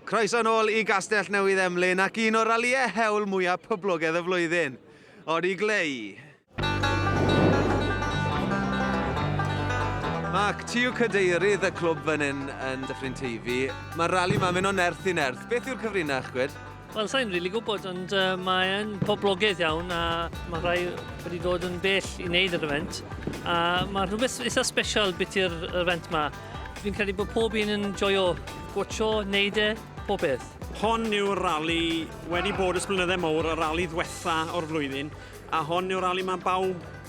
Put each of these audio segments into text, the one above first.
Croeso nôl i Gastell Newydd Emlyn ac un o'r ralïau hewl mwyaf poblogaidd y flwyddyn, Ori Glei. Mark, ti yw cadeirydd y clwb fan hyn yn Dyffryn Teifi. Mae'r rali 'ma'n mynd o nerth i nerth. Beth yw'r cyfrinach, gwed? Wel, sa'n rili really gwybod, ond uh, mae'n poblogaidd iawn a mae rhai wedi dod yn bell i wneud yr event. A mae rhywbeth eitha special beth i'r event ma. Fi'n credu bod pob un yn joio gwcho, wneud e, pob beth. Hon yw'r rali wedi bod ys blynyddau mowr, y rali ddwetha o'r flwyddyn, a hon yw'r rali mae bawb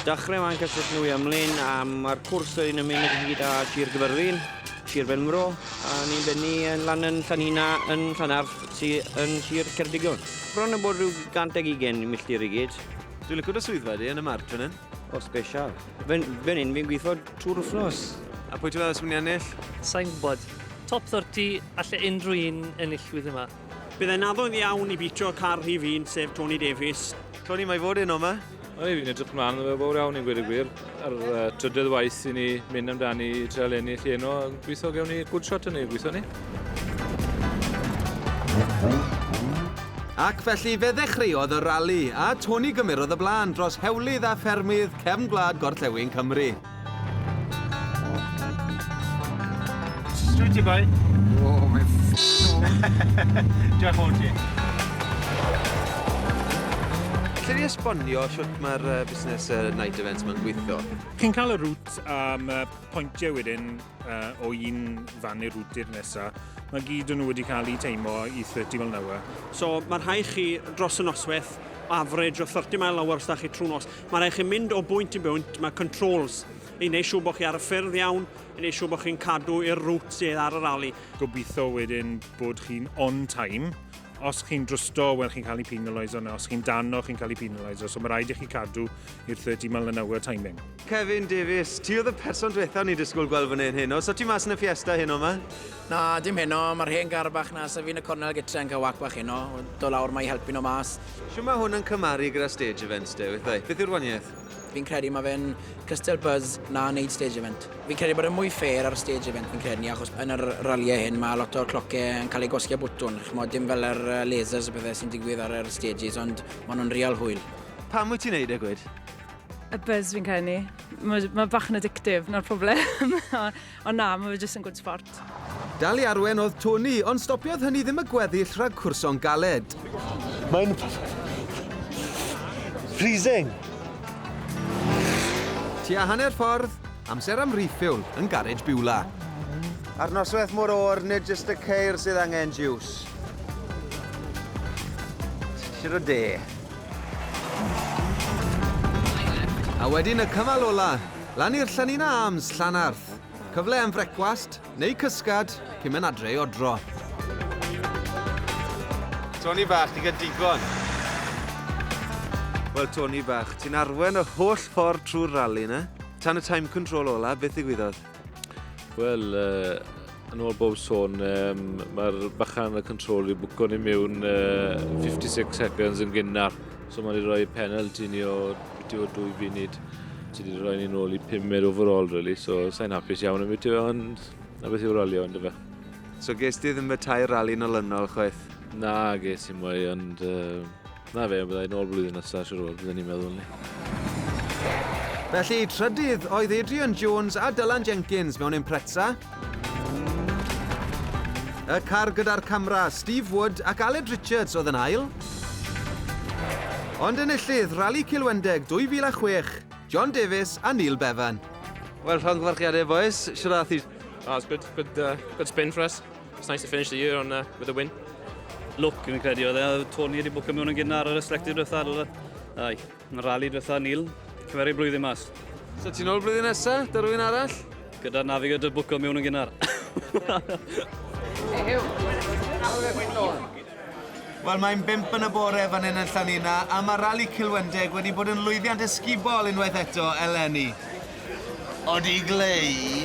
Dechrau wan cyn sut nhw i ymlaen a mae'r cwrs yn mynd yn hyd a Sir Gyfyrddin, Sir Benfro a ni'n bennu yn lan yn Llanhina yn Llanarth sydd yn Sir Ceredigion. Bron yn bod rhyw 120 milltir i gyd. Dwi'n licio dy swyddfa di yn y marc fan hyn. O, special. Fan, fan hyn fi'n gweithio trwy'r wythnos. A pwy ti'n meddwl sy'n mynd i ennill? Sai'n gwybod. Top 30, alle unrhyw un ennillwydd yma. Byddai'n naddo iawn i bîtio car rhif un, sef Tony Davies. Tony, mae fod heno yma? Wel, fi'n edrych mlaen yn fawr iawn i gweud y gwir. Yr uh, trydedd waith i ni mynd amdani i treol ennill i eno, gweithio gewn ni good shot yn ei gweithio ni. Ac felly fe ddechreuodd y rali, a Tony gymerodd y blaen dros hewlydd a ffermydd cefn gwlad gorllewin Cymru. Sweet you boy. Oh, my Diolch o ti. Lle ni esbonio sut mae'r uh, busnes uh, night events mae'n gweithio? Cyn cael y rŵt am uh, pwyntiau wedyn uh, o un fan i'r rŵt i'r nesaf, mae gyd yn nhw wedi cael eu teimo i 30 mil nawr. So mae rhai chi dros y noswaith, average o 30 mil nawr os da chi trwy nos. Mae rhaid chi mynd o bwynt i bwynt, mae controls i wneud siŵr bod chi ar y ffyrdd iawn, i wneud siŵr bod chi'n cadw i'r route sydd ar y rali. Gobeithio wedyn bod chi'n on time. Os chi'n drusto, wel chi'n cael ei penalise yna. Os chi'n dano, chi'n cael ei penalise. So mae rhaid i chi cadw i'r 30 mile an hour timing. Kevin Davies, ti oedd y person diwethaf o'n i disgwyl gweld fan hyn heno. So ti mas yn y Fiesta heno ma? Na, dim heno, mae'r hen gar bach 'na, sef un y cornel gytre yn cael whack bach heno, do lawr mae i helpu nhw mas. Shwt mae hwn yn cymharu gyda stage events de, withau? Beth yw'r waniaeth? Fi'n credu mae fe'n cystal buzz na wneud stage event. Fi'n credu bod e'n mwy fair ar stage event fi'n credu ni achos yn yr ralliau hyn mae lot o'r clocau yn cael eu gwasgu â bwtwn, chimod, dim fel yr lasers a pethau sy'n digwydd ar yr stages ond maen nhw'n real hwyl. Pam wyt ti'n wneud e, gwed? Y buzz fi'n credu ni. Mae bach yn addictive, 'na'r problem. Ond na, mae fe jyst yn gwd sbort. Dal i arwen oedd Tony, ond stopiodd hynny ddim y gweddill rhag cwrso'n galed. Mae'n freezing. Tua hanner ffordd, amser am refuel yn garej Biwla. Ar noswaith mor oer, nid jyst y ceir sydd angen jiws. Tir o de. A wedyn y cymal ola, Lan i'r Llynin Arms, Llanarth. Cyfle am frecwast, neu cysgad, cyn mynd adre i odro. Tony bach, ti'n cael digon. Wel, Tony bach, ti'n arwen y holl ffordd trwy'r rali yna. Tan y time control ola, beth ddigwyddodd? Wel, uh, Yn ôl bob sôn, um, mae'r bachan y control i bwco ni mewn uh, 56 seconds yn gynnar. So mae'n rhoi penalty ni o bwyty o dwy funud. So wedi rhoi ni'n ôl i 5 er overall, really. So sa'n hapus iawn am bwyty, ond na beth yw'r ralio, ond efe. So ges ti ddim y tair rali yn olynol, chwaith? Na, ges i mwy, ond uh, Na fe, bydda i nôl blwyddyn nesa siwr o fod, bydden i'n meddwl ni. Felly, trydydd oedd Adrian Jones a Dylan Jenkins mewn Impreza. Y car gyda'r camera, Steve Wood ac Aled Richards oedd yn ail. Ond enillydd Rali Cilwendeg 2006, John Davies a Neil Bevan. Wel, llongyfarchiadau, boys. Siwr a thir. Oh, it's good, good, uh, good spin for us. It's nice to finish the year on, uh, with a win. Look, fi'n credu oedd e, Tony wedi bwcio mewn yn gynnar ar y reflective diwetha, dyle. Ai, yn y rally diwetha, Neil, cymeru blwyddyn mas. So ti'n ôl blwyddyn nesa, da rwy'n arall? Gyda Navigator bwcio mewn yn gynnar. Hey, Hugh, how are you doing? Wel, mae'n bump yn y bore fan hyn yn Llanina, a mae Rali Cilwendeg wedi bod yn lwyddiant ysgubol unwaith eto eleni. Odi Glei?